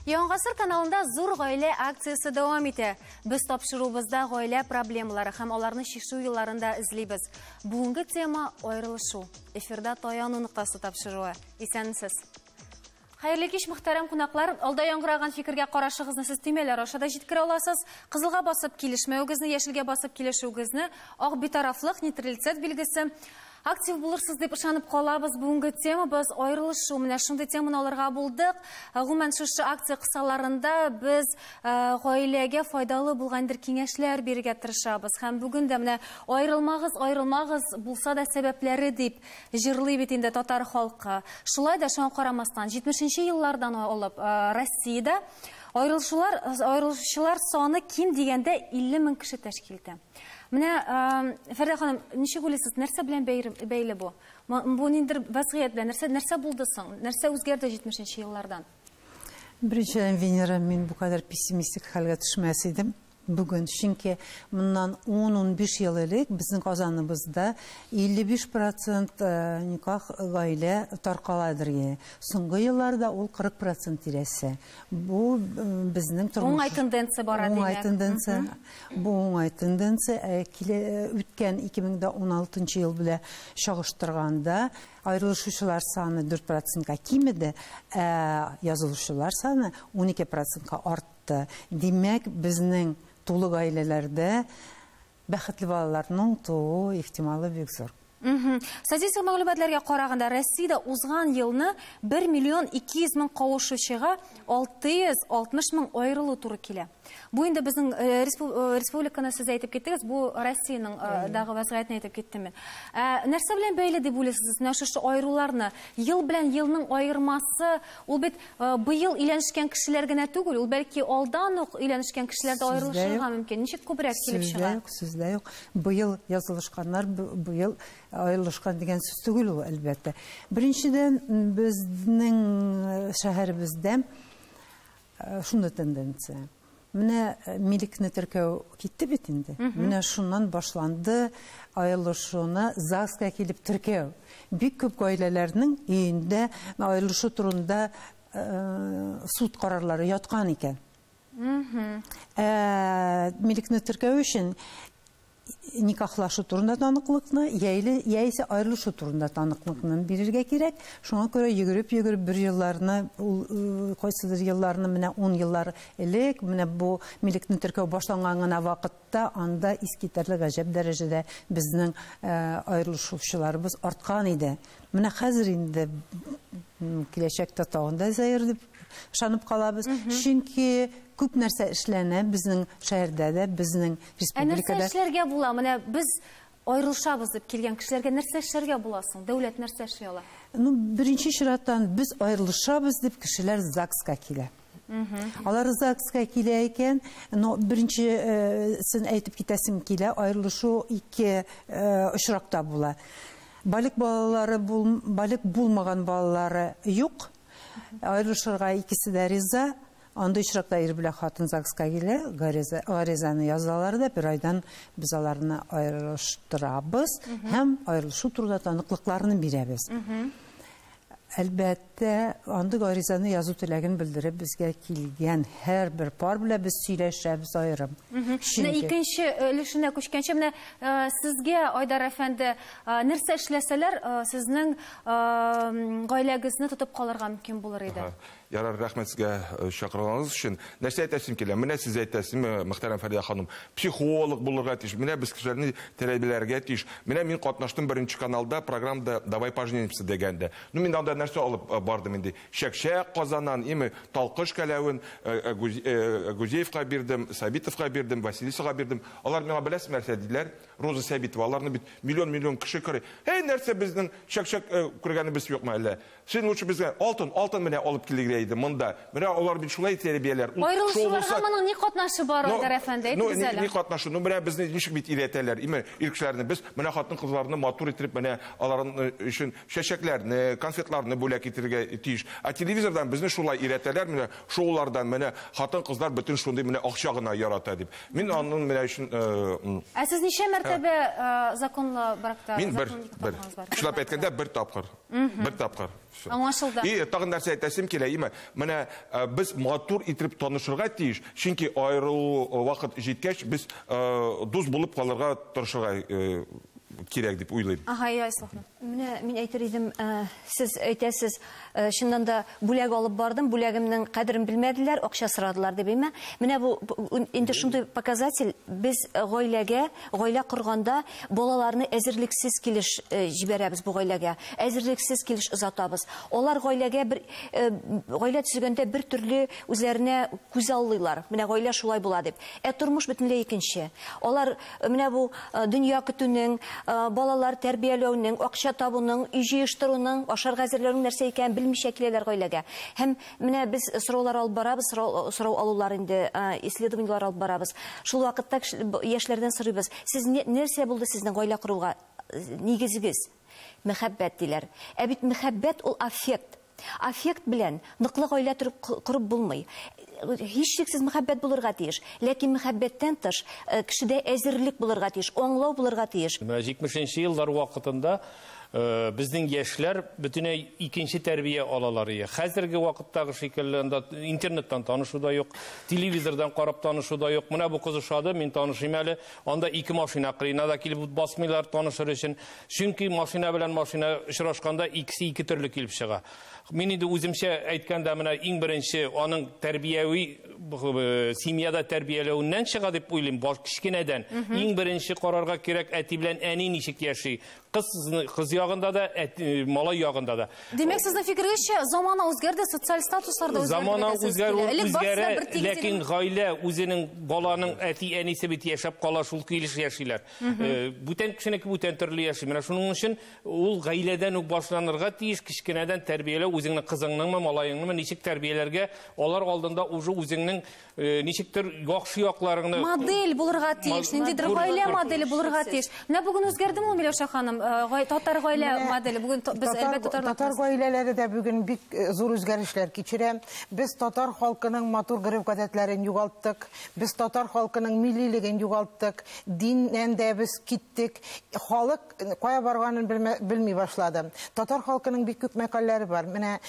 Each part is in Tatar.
Яңгасыр каналында зур гаилә акциясе дәвам итә. Без тапшыруыбызда гаилә проблемалары һәм аларны чишү юлларында эзлибез. Бүгенге тема аерылышу. Эфирда Таяну ноктасы тапшыруы. Исәнмесез. Хәерле кич, мөхтәрәм кунаклар! Алда яңгыраган фикергә карашыгызны сез төймәләр аша да җиткерә аласыз. Кызылга басып килешмәвегезне, яшелгә басып килешүегезне, ак битарафлык, нейтралитет билгесе. Актив булырсыз дип ышанып калабыз. Бүгенге темабыз аерылышу. Менә шундый теманы алырга булдык. Ә, гомумән, шушы акция кысаларында без ә, гаиләгә файдалы булган бер киңәшләр бирергә тырышабыз. Һәм бүген дә менә аерылмагыз, аерылмагыз, булса да сәбәпләре дип Җырлый бит инде татар халкы. Шулай да шуңа карамастан, 70 нче еллардан алып Россиядә аерылышулар, аерылышучылар саны ким дигәндә 50 мең кеше тәшкил итә. Менә, Фәрдә ханым, ничек уйлыйсыз, нәрсә белән бәйле бу? Бу ниндидер вәзгыять белән, нәрсә, нәрсә булды соң? Нәрсә үзгәрде 70 нче еллардан? Беренчедән, Венера, мин бу кадәр пессимистик хәлгә төшмәс идем. Бүген, чөнки моннан ун-унбиш ел элек безнең Казаныбызда 55 процент никах гаилә таркала дирге. Соңгы елларда ул 40 процент тирәсе. Бу безнең тормыш. Уңай тенденция бара димәк. Уңай тенденция. Бу уңай тенденция. Ә килә үткән 2016 ел белә чагыштырганда аерылышучылар саны 4 процентка кимеде, ә язылучылар саны 12 процентка артты. артты. Димәк, безнең тулы гаиләләрдә бәхетле балаларның туу ихтималы бик зур. Статистик мәгълүматларга караганда, Россиядә узган елны 1 миллион 200 мең кавышучыга 660 мең аерылу туры килә. Бу инде безнең республиканы сез әйтеп киттегез, бу Россиянең дагы вәзгыятен әйтеп киттем мин. Нәрсә белән бәйле дип уйлыйсыз, менә шушы аеруларны? Ел белән елның аермасы, ул бит Э, быел өйләнешкән кешеләр генә түгел, ул бәлки алдан ук өйләнешкән кешеләр дә аерылышырга мөмкин. Ничек күбрәк килеп чыга? Сүздә юк, сүздә юк. Быел язылышканнар, быел аерылышкан дигән сүз түгел ул, әлбәттә. Беренчедән, безнең э, шәһәребездә э, шундый тенденция. Менә милекне теркәү китте бит инде. Менә шуннан башланды аерылышуны ЗАГСка килеп теркәү. Бик күп гаиләләрнең өендә аерылышу турында суд карарлары яткан икән. Ә милекне теркәү өчен никахлашу турында таныклыкны яйле яисә аерылышу турында таныклыкны бирергә кирәк шуңа күрә йөгереп йөгереп бер елларны ул э, кайсыдыр елларны менә ун еллар элек менә бу милекне теркәү башланган гына вакытта анда искитәрлек гаҗәп дәрәҗәдә безнең э, аерылышучыларыбыз арткан иде менә хәзер инде киләчәктә тагын да зәер дип Ышанып калабыз, чөнки күп нәрсә эшләнә безнең шәһәрдә дә, безнең республикада. Ә нәрсә эшләргә була? Менә без аерылышабыз дип килгән кешеләргә нәрсә эшләргә була соң? Дәүләт нәрсә эшли ала? Ну, беренче чираттан без аерылышабыз дип кешеләр ЗАГСка килә. Алар ЗАГСка килә икән, но беренчесен э, әйтеп китәсем килә, аерылышу ике э, очракта була. Балик балалары, бул, балик булмаган балалары юк, Аерылышырга икесе дә риза. Андый очракта ир белән хатын ЗАГСка килә, гаризаны язалар да, бер айдан без аларны аерылыштырабыз һәм аерылышу турында таныклыкларны бирәбез. Әлбәттә, андый гаризаны язу теләген белдереп безгә килгән һәрбер пар белән без сөйләшәбез аерым. Менә икенче өлешенә күчкәнче, менә сезгә, Айдар әфәнде, нәрсә эшләсәләр, сезнең гаиләгезне тотып калырга мөмкин булыр иде. Ярар, рәхмәт сезгә э, чакырганыгыз өчен. Нәрсә әйтәсем килә? Менә сез әйтәсез, э, мөхтәрәм Фәридә ханым, психолог булырга тиеш. Менә без кешеләрне тәрбияләргә тиеш. Менә мин катнаштым беренче каналда программада Давай поженимся дигәндә. Ну мин анда нәрсә алып э, бардым инде? Чәкчәк казанан, име талкыш кәләвен Гузеевка бирдем, Сабитовка бирдем, Василисага бирдем. Алар миңа беләсез нәрсә диделәр? Роза Сәбитова, аларны бит миллион-миллион кеше күрә. Һәй, нәрсә безнең чәк-чәк э, күргәнебез юкмы әллә? Син лучше безгә алтын, алтын менә алып килергә иде монда. Менә алар бит шулай тәрбияләр. Ут шул Аерылышуларга булса- моның ни катнашы бар, Ну, Айдар әфәнде? ну, Әйтегез ни, ни әле. катнашы? Ну, менә безне ничек бит өйрәтәләр, име, ир кешеләрне. Без менә хатын-кызларны матур итеп, менә аларның өчен Чәчәкләрне, конфетларны бүләк итергә тиеш. Ә телевизордан безне шулай өйрәтәләр, менә шоулардан, менә хатын-кызлар бөтен шундый менә акча гына ярата дип. Мин аның менә өчен Ә сез ничә мәртәбә законлы бракта, Мин бер, законлы никахта бер. булганыгыз бар? Чынлап әйткәндә, бер тапкыр. Бер тапкыр. Всё. Аңлашылды. И тагын нәрсә әйтәсем килә, име, менә без матур итеп танышырга тиеш, чөнки аерылу вакыт җиткәч, без дус булып калырга тырышырга кирәк дип уйлыйм. Ага, я, Ислахман. Менә мин әйтер идем, ә, сез әйтәсез, ә, чыннан да бүләк алып бардым, бүләгемнең кадерен белмәделәр, акча сорадылар дип, әйме? Менә бу инде шундый показатель, без э, гаиләгә, гаилә корганда балаларны әзерлексез килеш э, җибәрәбез бу гаиләгә. Әзерлексез килеш озатабыз. Алар гаиләгә бер э, гаилә төзегәндә бер төрле үзләренә күз аллыйлар. Менә гаилә шулай була дип. Ә тормыш бөтенләй икенче. Алар Менә бу дөнья көтүнең, балалар тәрбияләүнең, акча табуның, өй җыештыруның, ашарга әзерләүнең нәрсә икәнен белмичә киләләр гаиләгә. Һәм менә без сораулар алып барабыз, сорау алулар инде, исследованиеләр алып барабыз. Шул вакытта яшьләрдән сорыйбыз, сез нәрсә булды сезнең гаилә коруга нигезегез? Мәхәббәт диләр. Ә бит мәхәббәт ул аффект. Аффект белән ныклы гаилә төреп корып булмый. Һичшиксез мәхәббәт булырга тиеш. Ләкин мәхәббәттән тыш кешедә әзерлек булырга тиеш, аңлау булырга тиеш. Менә җитмешенче еллар вакытында безнең яшьләр бөтенләй икенче тәрбия алалар ие. Хәзерге вакыттагы шикелле анда интернеттан танышу да юк, телевизордан карап танышу да юк. Менә бу кыз ошады, мин танышыйм әле. Анда ике машина кырыена да килеп басмыйлар танышыр өчен. Чөнки машина белән машина очрашканда икесе ике төрле килеп чыга. Мин инде үземчә әйткәндә менә иң беренче аның тәрбияви э, семьяда тәрбияләвеннән чыга дип уйлыйм, баш кечкенәдән. Иң беренче карарга кирәк әти белән әни ничек яши. Кыз, кыз ягында да, малай ягында да. Димәк, сезнең фикергезчә, замана үзгәрде, социаль статуслар да үзгәрде. Замана үзгәрү үзгәрә, ләкин гаилә үзенең баланың әти-әнисе бит яшәп кала, шул килеш яшиләр. Э, бүтән кешенеке бүтән төрле яши. Менә шуның өчен ул гаиләдән үк башланырга тиеш, кечкенәдән тәрбияләү үзеңнең кызыңныңмы, малаеңныңмы, ничек тәрбияләргә, алар алдында уже үзеңнең Э, ничектер яхшы якларыңны модель булырга тиеш ниндидер гаилә моделе булырга тиеш менә бүген үзгәрдеме ул миләүшә ханым э, татар гаилә моделе бүген без әлбәттә татар татар гаиләләре дә бүген бик э, зур үзгәрешләр кичерә без татар халкының матур гореф гадәтләрен югалттык без татар халкының миллилеген югалттык диннән дә без киттек халык Кая барганын белми башлады. Татар халкының бик күп мәкальләре бар. Менә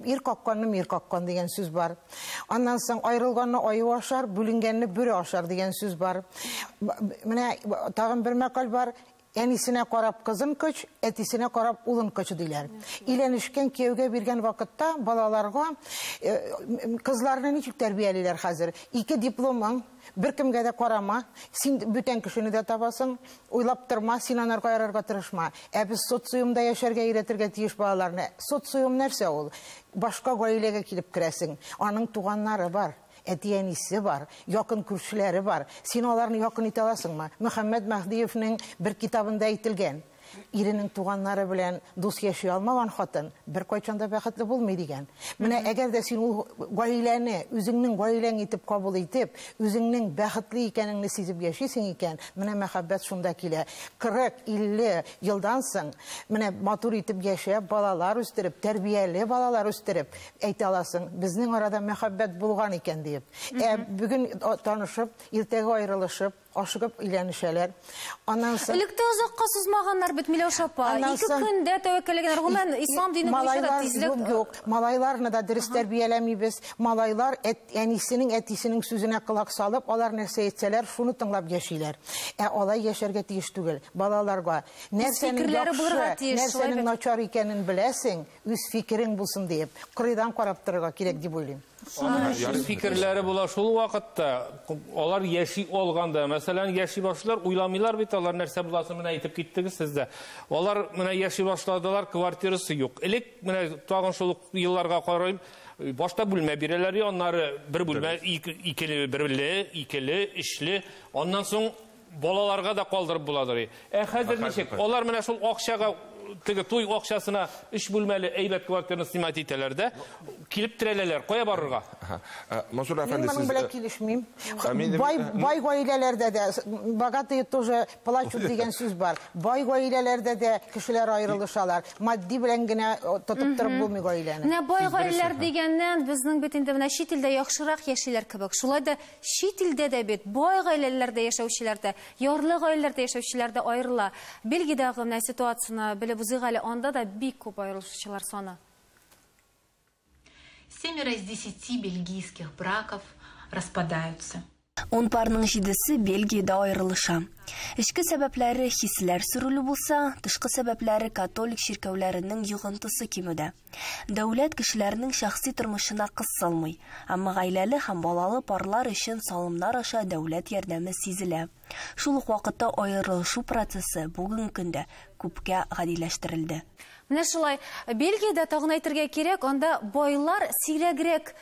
ир какканны мир каккан дигән сүз бар. Аннан соң аерылганны аю ашар, бүленгәнне бүре ашар дигән сүз бар. Менә тагын бер мәкаль бар. Әнисенә карап кызын көч, әтисенә карап улын көч диләр. Иләнешкән кияүгә биргән вакытта балаларга кызларны ничек тәрбиялиләр хәзер? Ике дипломың, Беркемгә дә карама, син бүтән кешене дә табасың, уйлап торма, син анарга ярарга тырышма. Ә без социумда яшәргә өйрәтергә тиеш балаларны. Социум нәрсә ул? Башка гаиләгә килеп керәсең, аның туганнары бар, әти-әнисе бар, якын күршеләре бар. Син аларны якын итә аласыңмы? Мөхәммәт Мәһдиевнең бер китабында әйтелгән. Иренең туганнары белән дус яши алмаган хатын беркайчан да бәхетле булмый дигән. Менә әгәр дә син ул гаиләне үзеңнең гаиләң итеп кабул итеп, үзеңнең бәхетле икәнеңне сизеп яшисең икән, менә мәхәббәт шунда килә. 40-50 елдан соң менә матур итеп яшәп, балалар үстереп, тәрбияле балалар үстереп әйтә аласың, безнең арада мәхәббәт булган икән диеп. Ә бүген танышып, иртәгә аерылышып, Ашыгып өйләнешәләр. Аннан соң... Элек тә озакка сузмаганнар бит, Миләүшә апа. Ике көндә тәвәккәлләгәннәр. Гомумән, ислам дине буенча да тизлек... Малайлар, юк, юк. Малайларны да дөрес тәрбияләмибез. Малайлар әнисенең, әтисенең сүзенә колак салып, алар нәрсә әйтсәләр, шуны тыңлап яшиләр. Ә алай яшәргә тиеш түгел. Балаларга нәрсәнең яхшы, нәрсәнең начар икәнен беләсең, үз фикерең булсын диеп, кырыйдан карап торырга кирәк дип уйлыйм. Фикерләре була шул вакытта, алар яши алганда, мәсәлән, яши башлар, уйламыйлар бит алар нәрсә буласын менә әйтеп киттегез сез дә. Алар менә яши башладылар, квартирасы юк. Элек менә тагын шул елларга карыйм, башта бүлмә бирәләр, аннары бер бүлмә, икеле, берле, икеле, өчле, аннан соң Балаларга да калдырып буладыр. Ә хәзер ничек? Алар менә шул акчага теге туй акчасына өч бүлмәле әйбәт квартираны снимать итәләр дә, килеп терәләләр. Кая барырга? Мансур әфәнде, сез... Мин моның белән килешмим. Бай, бай гаиләләрдә дә, богатые тоже плачут дигән сүз бар. Бай гаиләләрдә дә кешеләр аерылышалар. Матди белән генә тотып торып булмый гаиләне. Менә бай гаиләләр дигәннән, безнең бит инде менә чит илдә яхшырак яшиләр кебек. Шулай да Чит илдә дә бит бай гаиләләрдә яшәүчеләр дә, ярлы гаиләләрдә яшәүчеләр дә аерыла. Бельгиядәге менә ситуацияне белеп узыйк әле, анда да бик күп аерылышучылар саны. Семеро из десяти бельгийских браков распадаются. Ун парның җидесе Бельгиядә аерылыша. Эчке сәбәпләре хисләр сөрелү булса, тышкы сәбәпләре католик чиркәүләренең йогынтысы кимүдә. Дәүләт кешеләрнең шәхси тормышына кысылмый, әмма гаиләле һәм балалы парлар өчен салымнар аша дәүләт ярдәме сизелә. Шул ук вакытта аерылышу процессы бүгенге көндә күпкә гадиләштерелде. Менә шулай. Бельгиядә, тагын әйтергә кирәк, анда байлар сирәгрәк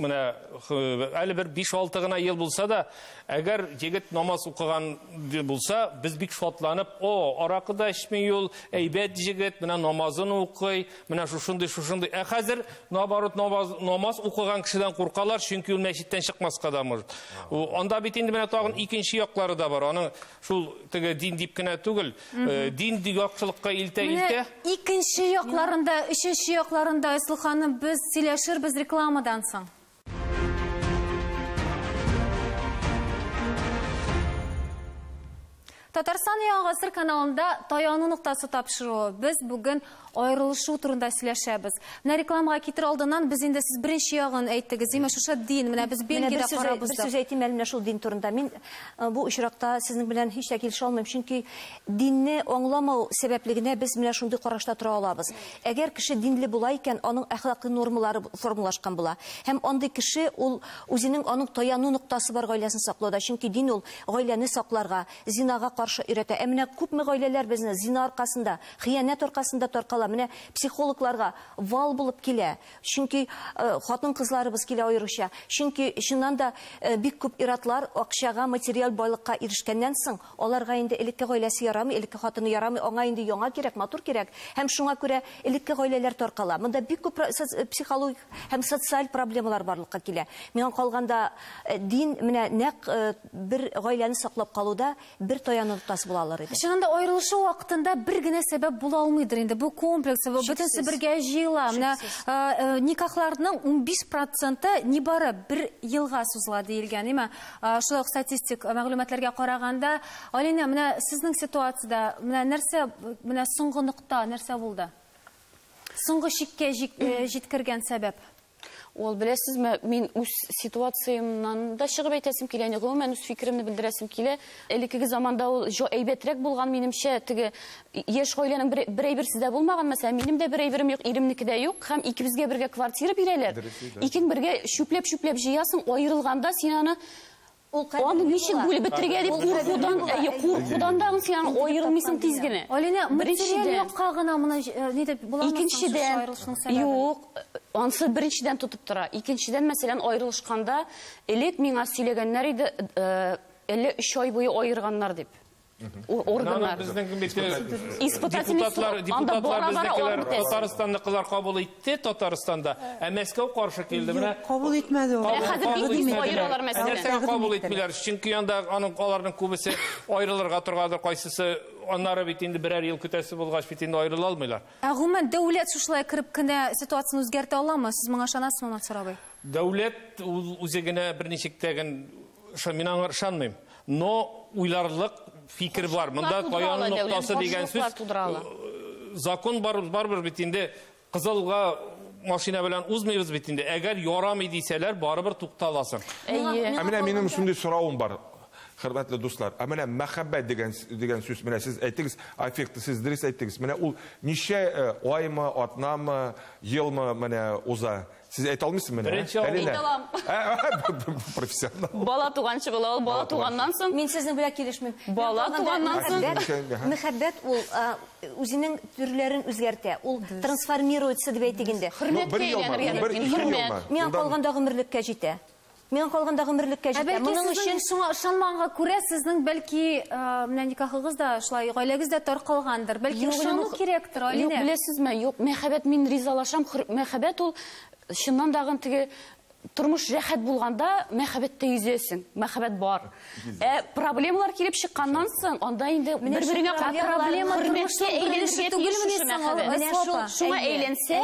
менә әле бер 5-6 гына ел булса да, әгәр егет намаз укыган булса, без бик шатланып, о, аракы да эчми ул, әйбәт егет, менә намазын укый, менә шушындый, шушындый. Ә хәзер наоборот намаз, намаз укыган кешедән куркалар, чөнки ул мәчеттән чыкмаска да может. Анда бит инде менә тагын икенче яклары да бар. Аның Шул теге дин дип кенә түгел, э, дин яктылыкка илтә илтә. Икенче якларында, өченче якларында Айсыл ханым без сөйләшербез рекламадан соң. Татарстан яңа гасыр каналында таяну ноктасы тапшыруы. Без бүген Аерылышу турында сөйләшәбез. Менә рекламага китер алдыннан без инде сез беренче ягын әйттегез. Димәк, шушы дин, менә без Бельгиядә карап уздык. Бер сүз әйтим әле менә шул дин турында. Мин э, бу очракта сезнең белән һич тә килешә алмыйм, чөнки динне аңламау сәбәпле генә без менә шундый карашта тора алабыз. Әгәр кеше динле була икән, аның әхлакый нормалары формалашкан була. Һәм андый кеше ул үзенең аның таяну ноктасы бар гаиләсен саклауда, чөнки дин ул гаиләне сакларга, зинага каршы өйрәтә. Ә менә күпме гаиләләр безне зина аркасында Хыянәт аркасында таркала. Менә психологларга вал булып килә. Чөнки хатын-кызларыбыз килә аеруча. Чөнки чыннан да бик күп иратлар акчага, материаль байлыкка ирешкәннән соң, аларга инде элекке гаиләсе ярамый, элекке хатыны ярамый, аңа инде яңа кирәк, матур кирәк. Һәм шуңа күрә элекке гаиләләр таркала. Монда бик күп психологик һәм социаль проблемалар барлыкка килә. Миңа калганда дин менә нәкъ бер гаиләне саклап калуда бер таяны тотасы була алыр иде. Чынында аерылышу вакытында бер генә сәбәп була алмыйдыр инде. Бу комплекс, бу бөтенесе бергә җыела. Менә э, э, никахларның 15 проценты нибары бер елга сузыла диелгән. Имә, э, шулай ук статистик мәгълүматларга караганда, Алина, менә сезнең ситуациядә, менә нәрсә, менә соңгы нокта нәрсә булды? Соңгы чиккә җиткергән сәбәп? Ул беләсезме, мин үз ситуациямнан да чыгып әйтәсем килә, яни гомумән үз фикеремне белдерәсем килә. Элеккеге заманда ул җо әйбәтрәк булган, минемчә, теге яшь гаиләнең бер, бер әйберсе дә булмаган, мәсәлән, минем дә бер әйберем юк, иремнеке дә юк, һәм икебезгә бергә квартира бирәләр. Икең бергә чүпләп-чүпләп җыясың, аерылганда син аны Аны ничек бүлеп бетерергә дип куркудан, әйе, куркудан да син аны аерылмыйсың тиз генә. Алинә, материаль якка гына моны ни дип буламы соң? Юк, ансы беренчедән тотып тора. Икенчедән, мәсәлән, аерылышканда, элек миңа сөйләгәннәр иде, әллә өч ай буе аерганнар дип. органнар. Депутатлар, депутатлар безнекеләр Татарстанны кызлар кабул итте Татарстанда, ә Мәскәү каршы килде. Менә кабул итмәде ул. Ә хәзер бик тиз аералар Мәскәүдән. Нәрсәгә кабул итмиләр? Чөнки анда аның аларның күбесе аерылырга торгандыр, кайсысы аннары бит инде берәр ел көтәсе булгач бит инде аерыла алмыйлар. Ә гомумән дәүләт шушылай кереп кенә ситуацияне үзгәртә аламы? Сез моңа ышанасызмы, Мансур абый? Дәүләт үзе генә берничек тә шо мин аңар ышанмыйм. Но уйларлык фикер бар. Монда каяның ноктасы дигән сүз. Закон бар, барбер бит инде кызылга машина белән узмыйбыз бит инде. Әгәр ярамый дисәләр, барыбер тукталасың. Ә менә минем шундый соравым бар. Хөрмәтле дуслар, ә менә мәхәббәт дигән дигән сүз менә сез әйтегез, аффект сез дөрес әйтегез. Менә ул ничә э, аймы, атнамы, елмы менә уза? Сез әйтә алмыйсыз менә? Беренче ә? Әйтә алам. Профессионал. Бала туганчы була ул, бала туганнан соң. Мин сезнең белән килешмим. Бала туганнан соң. Мәхәббәт ул үзенең төрләрен үзгәртә. Ул трансформируется дип әйтик инде. Хөрмәткә әйләнергә мөмкин. Миңа калганда гомерлеккә җитә. Миңа калганда гомерлеккә җитә. Ә бәлки сезнең шуңа ышанмаганга күрә, сезнең бәлки менә никахыгыз да шулай, гаиләгез дә таркалгандыр. Бәлки ышану кирәктер, Алинә? Юк, беләсезме, юк, мәхәббәт, мин ризалашам, мәхәббәт ул чыннан да теге тормыш рәхәт булганда мәхәббәттә йөзәсең, мәхәббәт бар. Ә проблемалар килеп чыкканнан соң, анда инде бер-береңә проблема хөрмәткә әйләнергә тиеш шушы мәхәббәт. Шуңа әйләнсә,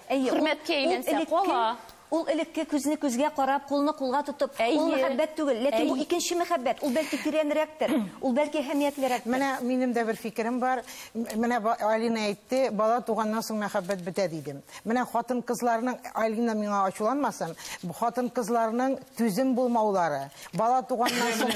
хөрмәткә әйләнсә кала. Ул элекке күзне күзгә карап, кулны кулга тотып, ул мәхәббәт түгел, ләкин бу икенче мәхәббәт, ул бәлки тирәнрәктер, ул бәлки әһәмиятлерәктер. Менә минем дә бер фикерем бар. Менә Алина әйтте, бала туганнан соң мәхәббәт бетә диде. Менә хатын-кызларның, Алина миңа ачуланмасын, хатын-кызларның түзем булмаулары, Бала туганнан соң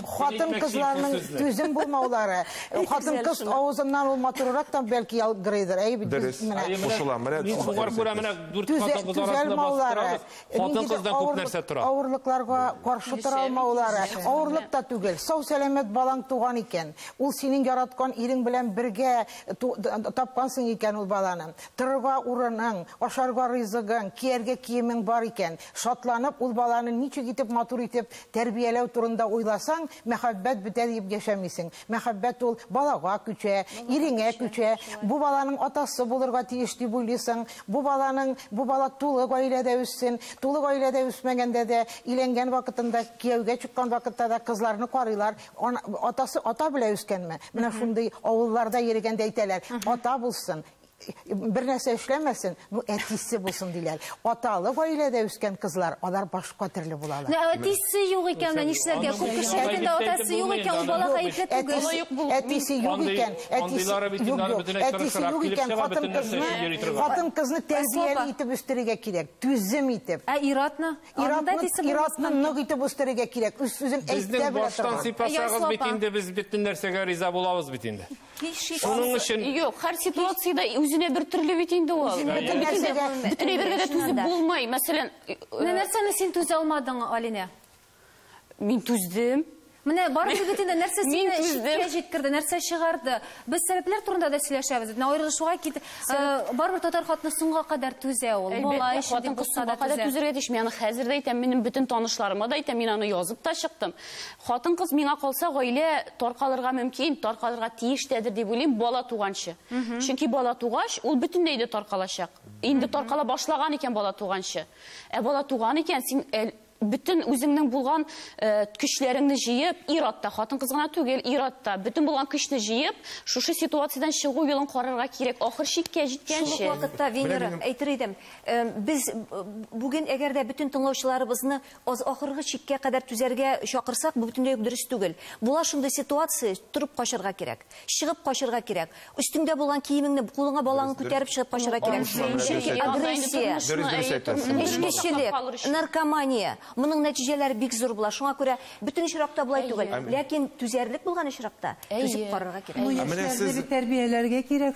хатын кызларның түзем булмаулары, хатын кыз авызыннан ул матуррак та бәлки ялгырыйдыр. Әй бит без менә. Дөрес. Кушылам. Менә мин шуңар күрә менә дүрт хатын кыз арасында бастыра. Хатын кыздан күп нәрсә тора. Авырлыкларга каршы тора алмаулары, авырлык та түгел. Сау сәламәт балаң туган икән, ул синең яраткан ирең белән бергә тапкансың икән ул баланы. Торырга урының, ашарга ризыгың, кияргә киемең бар икән, Шатланып, ул баланы ничек итеп матур итеп тәрбияләү турында уйласаң, мәхәббәт бетә диеп яшәмисең. Мәхәббәт ул балага күчә, иреңә күчә. Бу баланың атасы булырга тиеш дип уйлыйсың. Бу баланың, бу бала тулы гаиләдә үссен. Тулы гаиләдә үсмәгәндә дә, өйләнгән вакытында, кияүгә чыккан вакытта да кызларны карыйлар. Атасы ата белә үскәнме? Менә шундый авылларда йөрегәндә әйтәләр, ата булсын. бер нәрсә эшләмәсен, ну әтисе булсын диләр. Аталы гаиләдә үскән кызлар, алар башка төрле булалар. Ну әтисе юк икән, менә нишләргә? Күп кешеләрдән дә атасы юк икән, ул бала гаепле түгел. Әтисе юк икән, әтисе юк икән, хатын кызны тәрбияли итеп үстерергә кирәк, түзем итеп. Ә иратны? Иратны нык итеп үстерергә кирәк. Үз сүзен әйтә белә торган. Безнең баштан сыйпасагыз бит инде, без бөтен нәрсәгә риза булабыз бит инде. Шуның өчен Юк, һәр ситуациядә үзенә бер төрле бит инде ул. Үзенә бер нәрсәгә бөтен әйбергә дә түзеп булмый. Мәсәлән, Менә нәрсәне син түзә алмадың, Алинә? Мин түздем. Менә барыбер бит инде нәрсә сине чиккә җиткерде, нәрсә чыгарды. Без сәбәпләр турында да сөйләшәбез. Менә аерылышуга кит, барыбер татар хатыны соңга кадәр түзә ул. Бала өчен дип булса да түзә. Түзәргә тиеш. Мин аны хәзер дә әйтәм, минем бөтен танышларыма да әйтәм, мин аны язып та чыктым. Хатын-кыз, миңа калса, гаилә таркалырга мөмкин, таркалырга тиеш тәдер дип уйлыйм, бала туганчы. Чөнки бала тугач, ул бөтенләй дә таркалачак. Инде таркала башлаган икән бала туганчы. Ә бала туган икән, син бөтен үзеңнең булган көчләреңне җыеп, ир-ат та, хатын-кыз гына түгел, ир-ат та, бөтен булган көчне җыеп, шушы ситуациядән чыгу юлын карарга кирәк, ахыр чиккә җиткәнче. Шул ук вакытта, Венера, әйтер идем, без бүген, әгәр дә бөтен тыңлаучыларыбызны Аз ахыргы чиккә кадәр түзәргә чакырсак, бу бөтенләй үк дөрес түгел. Була шундый ситуация, торып качарга кирәк. Чыгып качарга кирәк. Өстеңдә булган киемеңне, кулыңа балаңны күтәреп чыгып качарга кирәк. Чөнки агрессия, эчкечелек, наркомания, моның нәтиҗәләре бик зур була. Шуңа күрә бөтен очракта болай түгел. Ләкин түзәрлек булган очракта, түзеп карарга кирәк. Яшьләрне бит тәрбияләргә кирәк,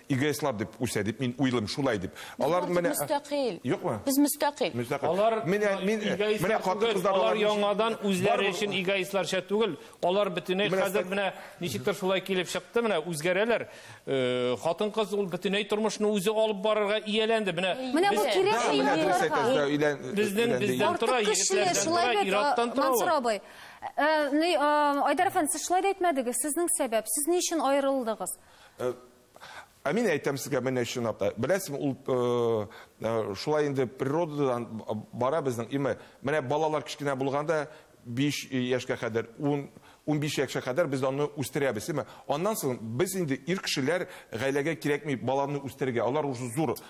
эгоистлар дип үсә дип мин уйлыйм шулай дип алар менә мөстәкыйль юкмы без мөстәкыйль мөстәкыйль алар менә мин менә хатын кызлар алар яңадан үзләре өчен эгоистларча түгел алар бөтенләй хәзер менә ничектер шулай килеп чыкты менә үзгәрәләр э, хатын кыз ул бөтенләй тормышны үзе алып барырга ияләнде менә менә бу кирәк безнең бездән тора егетләрдән тора ираттан тора Мансур абый э, э, Айдар әфәнде сез шулай да әйтмәдегез сезнең сәбәп сез ни өчен аерылдыгыз Э, Ә мин әйтәм сезгә менә чынлап та. Беләсең, ул э, э, шулай инде природадан бара безнең. Име, менә балалар кечкенә булганда 5 яшькә кадәр, 10 15 яшькә кадәр без аны үстерәбез, име? Аннан соң без инде ир кешеләр гаиләгә кирәкми баланы үстерергә. Алар уже зур,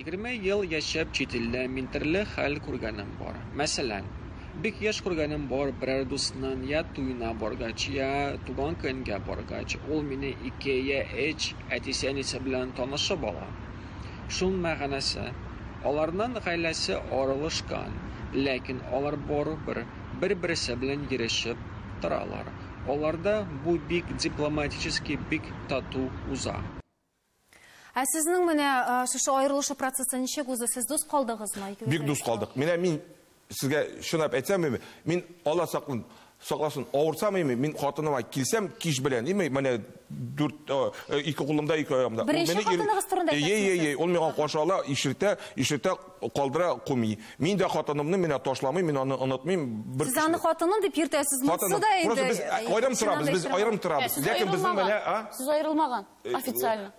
Егерме ел яшәп чит илдә мин терле хәл күргәнем бар. Мәсәлән, бик яшь күргәнем бар, берәр дусның йә туена баргач, йә туган көнгә баргач, ул мине ике йә өч әтисе-әнисе белән танышып ала. Шун мәгънәсе, аларның гаиләсе аралашкан, ләкин алар барыбер бер-берсе белән йөрешеп торалар. Аларда бу бик дипломатически, бик тату уза. Ә сезнең менә шушы аерылышу процессы ничек узды? Сез дус калдыгызмы? Бик дус калдык. Менә мин сезгә чынлап әйтсәм, мин Алла саклын, сакласын, авырсам, мин хатыныма килсәм кич белән, име, менә дүрт, ике кулымда, ике аягымда. Беренче хатыныгыз турында әйтәсез? Ей, ей, ей, ул миңа каршы ала, ишертә, ишертә калдыра куми. Мин дә хатынымны менә ташламыйм, мин аны онытмыйм. Сез аны хатыным дип йөртәсез, монысы да инде. Просто без аерым торабыз, без аерым торабыз. Сез аерылмаган. Официально.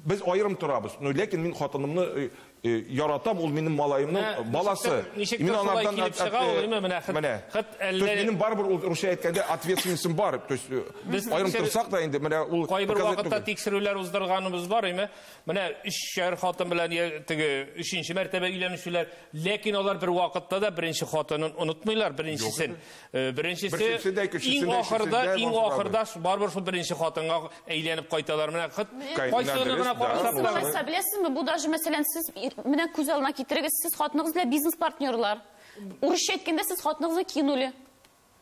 Без аерым торабыз. Ну, ләкин мин хатынымны э, э, яратам, ул минем малаемның Ә, баласы. ничектер- ничектер Мин шулай анардан килеп чыга ул, әйеме, менә хет- Менә. хет То есть әллә- минем барыбер ул русча әйткәндә ответственностем бар. То есть э, Без аерым тикшер- торсак та инде менә ул Кайбер показать вакытта түгел. тикшерүләр уздырганыбыз бар, име? Менә өчәр хатын белән я- теге өченче мәртәбә өйләнүчеләр, ләкин алар бер вакытта да беренче хатынын онытмыйлар, беренчесен. Э, беренчесе Берсесе дә, кечесен иң дә, ахырда, өчесен дә иң Мансур абый. ахырда ш- барыбер шул беренче хатынга әйләнеп кайталар. Менә хыт, Кай- кайсыны дөрес, гына да. карасак Мансур та. абый. Хәтта беләсезме, бу даже мәсәлән сез ир- менә күз алдына китерегез, сез хатыныгыз белән бизнес партнерлар. Урысча әйткәндә сез хатыныгызны кинули.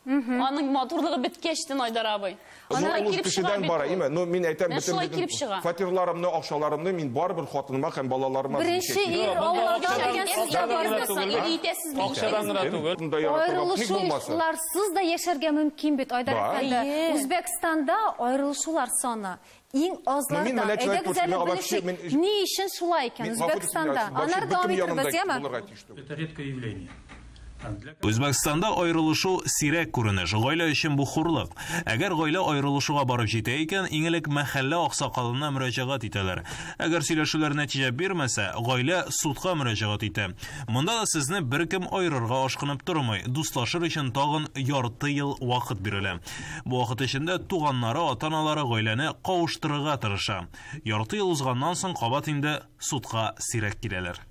Аның матурлыгы беткәч тен Айдар абый. Аннары килеп чыга бит. Бара, имә. Ну, мин әйтәм, бөтен шулай килеп чыга. Фатирларымны, акчаларымны мин барыбер хатыныма һәм балаларыма Беренче ир Аллаһка биргән сезгә бармаса, ир итәсез бит. Акчадан гына түгел. Аерылышуларсыз да яшәргә мөмкин бит, Айдар әфәнде. Үзбәкстанда аерылышулар саны иң азларда. Әйдәгез әле белешик, ни өчен шулай икән Үзбәкстанда? Аннары дәвам итәрбез, яме? Это редкое явление. Үзбәкстанда аерылышу сирәк күренеш, гаилә өчен бу хурлык. Әгәр гаилә аерылышуга барып җитә икән, иң элек мәхәллә аксакалына мөрәҗәгать итәләр. Әгәр сөйләшүләр нәтиҗә бирмәсә, гаилә судка мөрәҗәгать итә. Монда да сезне беркем аерырга ашкынып тормый, дуслашыр өчен тагын ярты ел вакыт бирелә. Бу вакыт эчендә туганнары, ата-аналары гаиләне кавыштырырга тырыша. Ярты ел узганнан соң кабат инде судка сирәк киләләр.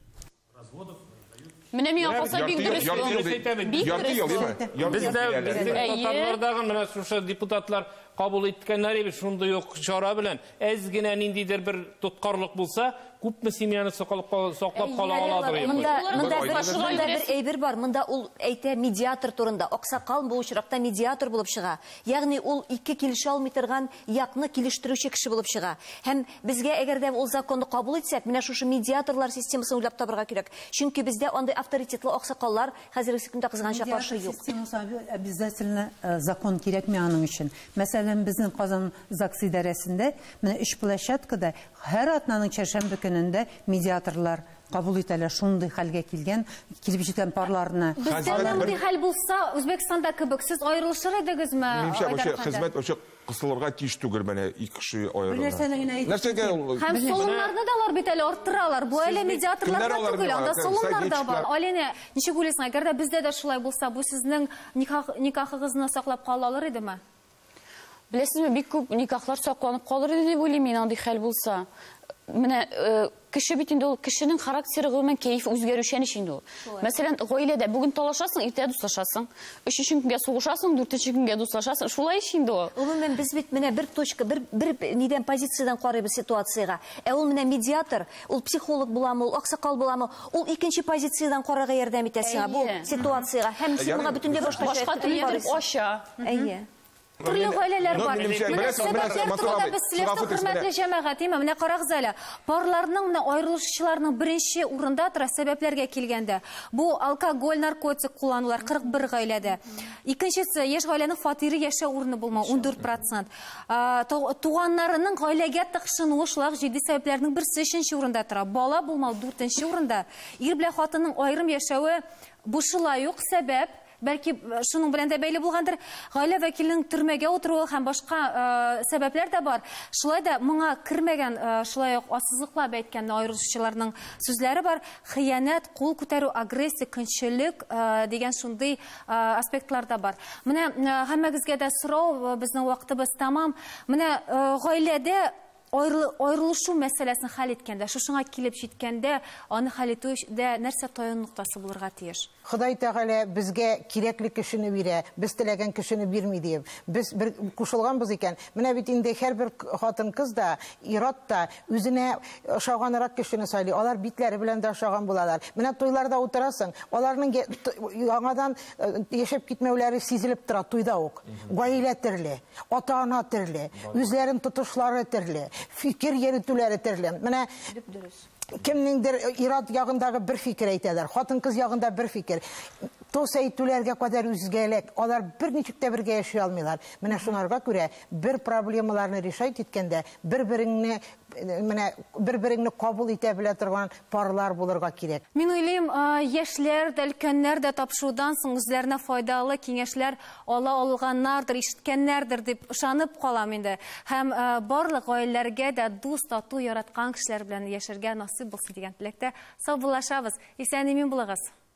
Менә миңа калса бик дөрес ел. Дөрес әйтә бит. Бик дөрес ел. Бездә безнең татарлардагы менә шушы депутатлар кабул иткәннәр иде шундый ук чара белән. Әз генә ниндидер бер тоткарлык булса, күпме семьяны саклап кала аладыр инде. Монда монда шулай бер әйбер бар. Монда ул әйтә медиатор турында. Аксакал бу очракта медиатор булып чыга. Ягъни ул ике килешә алмый торган якны килештерүче кеше булып чыга. Һәм безгә, әгәр дә ул законны кабул итсәк, менә шушы медиаторлар системасын уйлап табырга кирәк. Чөнки бездә андый авторитетлы аксакаллар хәзергесе көндә кызганычка каршы юк. Медиатор системасы обязательно закон кирәкми аның өчен. Мәсәлән, безнең Казан ЗАГС идарәсендә менә өч площадкада һәр атнаның чәршәмбе көнендә медиаторлар Кабул итәләр шундый хәлгә килгән, килеп җиткән парларны. Бездә дә мондый хәл булса, Үзбәкстанда кебек, сез аерылышыр идегезме? Минемчә, вообще хезмәт вообще кысылырга тиеш түгел, менә ике кеше аерылган. Бер нәрсәне генә әйтеп Нәрсәгә ул? үтим. Һәм солымнарны да алар бит әле арттыралар. Бу әле медиаторларга түгел, анда солымнар да бар. Алинә, ничек уйлыйсың, әгәр дә бездә дә шулай булса, бу сезнең никахыгызны саклап кала алыр идеме? Беләсезме, бик күп никахлар сакланып калыр иде дип уйлыйм мин андый хәл булса. Менә э, кеше бит инде ул кешенең характеры гомумән кәеф үзгәрүчән ич инде ул. Мәсәлән, гаиләдә бүген талашасың, иртә дуслашасың. Өченче көнгә сугышасың, дүртенче көнгә дуслашасың. Шулай ич инде ул. Гомумән без бит менә бер точка, бер бер нидән позициядән карыйбыз ситуациягә. Ә ул менә медиатор, ул психолог буламы, ул аксакал буламы, ул икенче позициядән карарга ярдәм итә сиңа бу ситуациягә. Һәм син моңа бөтенләй башкача Башка төрле итеп ача. Әйе. Төрле гаиләләр бар. Менә сәбәпләр турында без сөйләп хөрмәтле җәмәгать, имам, менә карагыз әле. Парларның менә аерылышучыларның беренче урында тора сәбәпләргә килгәндә. Бу алкоголь, наркотик кулланулар 41 гаиләдә. Икенчесе, яшь гаиләнең фатиры яшәү урыны булмау 14%. Туганнарының гаиләгә тыкшынуы шулай җитди сәбәпләрнең берсе өченче урында тора. Бала булмау 4 урында. Ир белән хатынның аерым яшәве бу шулай ук сәбәп. Бәлки, шуның белән дә бәйле булгандыр, гаилә вәкиленең төрмәгә утыруы һәм башка э, сәбәпләр дә бар. Шулай да моңа кермәгән, э, шулай ук ассызыклап әйткән аеручыларның сүзләре бар. Хыянәт, кул күтәрү, агрессия, көнчелек э, дигән шундый э, аспектлар да бар. Менә э, һәммәгезгә дә сорау, э, безнең вакытыбыз тәмам. Менә э, гаиләдә Аерылышу мәсьәләсен хәл иткәндә, шушыңа килеп җиткәндә, аны хәл итүдә нәрсә таяну ноктасы булырга тиеш? Ходай Тәгалә безгә кирәкле кешене бирә, без теләгән кешене бирми, диеп, без бер кушылганбыз икән, менә бит инде һәрбер хатын-кыз да, ир-ат та үзенә ошаганрак кешене сайлый, алар битләре белән дә ошаган булалар. Менә туйларда утырасың, аларның яңадан яшәп китмәүләре сизелеп тора туйда ук. Гаилә төрле. ата-ана төрле, үзләрен тотышлары төрле, фикер йөртүләре төрле. Менә дөрес. Кемнеңдер э, ират ягындагы бер фикер әйтәләр, хатын-кыз ягында бер фикер. Тос әйтүләргә кадәр үзгәлек. Алар бер ничек тә бергә яши алмыйлар. Менә шуңарга күрә бер проблемаларны решать иткәндә, бер-береңне Менә бер-береңне кабул итә белә торган парлар булырга кирәк. Мин уйлыйм, яшьләр дә, өлкәннәр дә тапшырудан соң үзләренә файдалы киңәшләр ала алганнардыр, ишеткәннәрдер дип ышанып калам инде. Һәм барлык гаиләләргә дә дус, тату, яраткан кешеләр белән яшәргә насыйп булсын дигән теләктә саубуллашабыз. Исән-имин булыгыз!